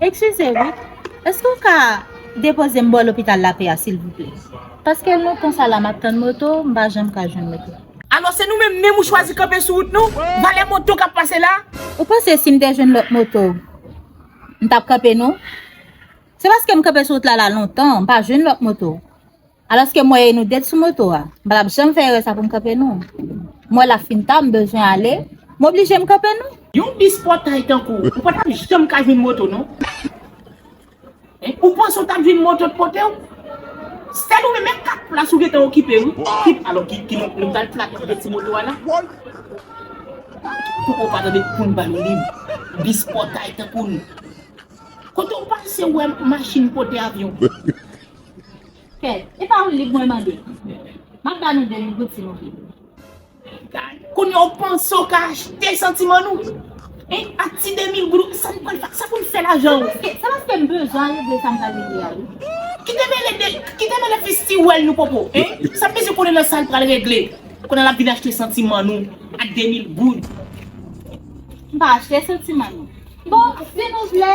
Ekskize wi, eske w ka depoze m bò lopital Lapè a silvouplè? Paske lontan sa la m ap tann moto, m pa janm ka jwenn moto. Alò se nou menm menm ou chwazi kanpe sou wout nou? Valè moto kap pase la? Ou panse si m te jwenn lòt moto m tap kanpe non? Se paske m kanpe sou wout la la lontan m pa jwenn lòt moto. Alòske m wè e nou det sou moto a. M pa tap janm fè erè sa pou m kanpe non. M wè la fin ta m bezwen ale m oblije m kanpe non. Yon bis pòtay tankou ou pa tap janm ka jwenn moto non. Ou panse ou tap jwenn moto t pote w? Sèl ou menm menm 4 plas ou gentan okipe wi. Alò ki ki lòt moun kal flate kote ti moto a la? Fòk ou pa tande poun ba nou lib. Bis pòtay tankou nou. Kote ou pase ou wè machin pote avyon? Kèt, e pa yon lib mwen mande. Map ba nou 2 lib wi ti moun. Kounya ou panse ou ka achte santiman nou? Hein ak ti 2000 goud ou sa nou pral fè sa pou nou fè lajan ou. Se paske m bezwen regle sa m pral regle ya wi. Ki te mele de ki te mele fi stiwèl nou popo hein sa m bezwen konnen nan sa l pral regle kounal ap vin achte santiman nou ak 2000 goud. M pa achte santiman nou bon si nou vle.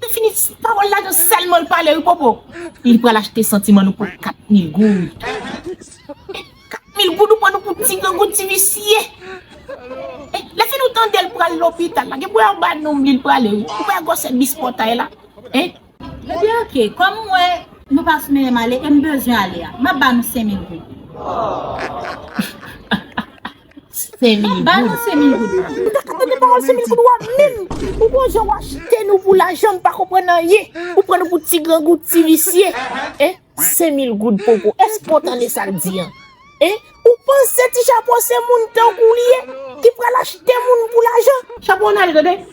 Se fini pawol la gen selman l pale wi popo. Li pral achte santiman nou pou 4 mil goud. 4 mil goud ou pran nou pou ti grangou ti visye. Le fini ou tandel pral lopital la gen pou yo ba nom li l prale wi. Ou pa wè gwosè bis potay la. Ebyen ok kom m wè nou pa sou menm ale e m bezwen ale a map ba nou 5000 goud. Ba nou semin goud sa. Mta ka tande pawòl semin goud wa menm ou gon jan wa jete nou pou lajan mpa konprann anyen ou pran nou pou ti grangou ti visye eh senmil goud popo èske ou tande sal di an eh ou panse ti chapo se moun tankouw li ye ki pral achte moun pou lajan. Chapo nan li tande.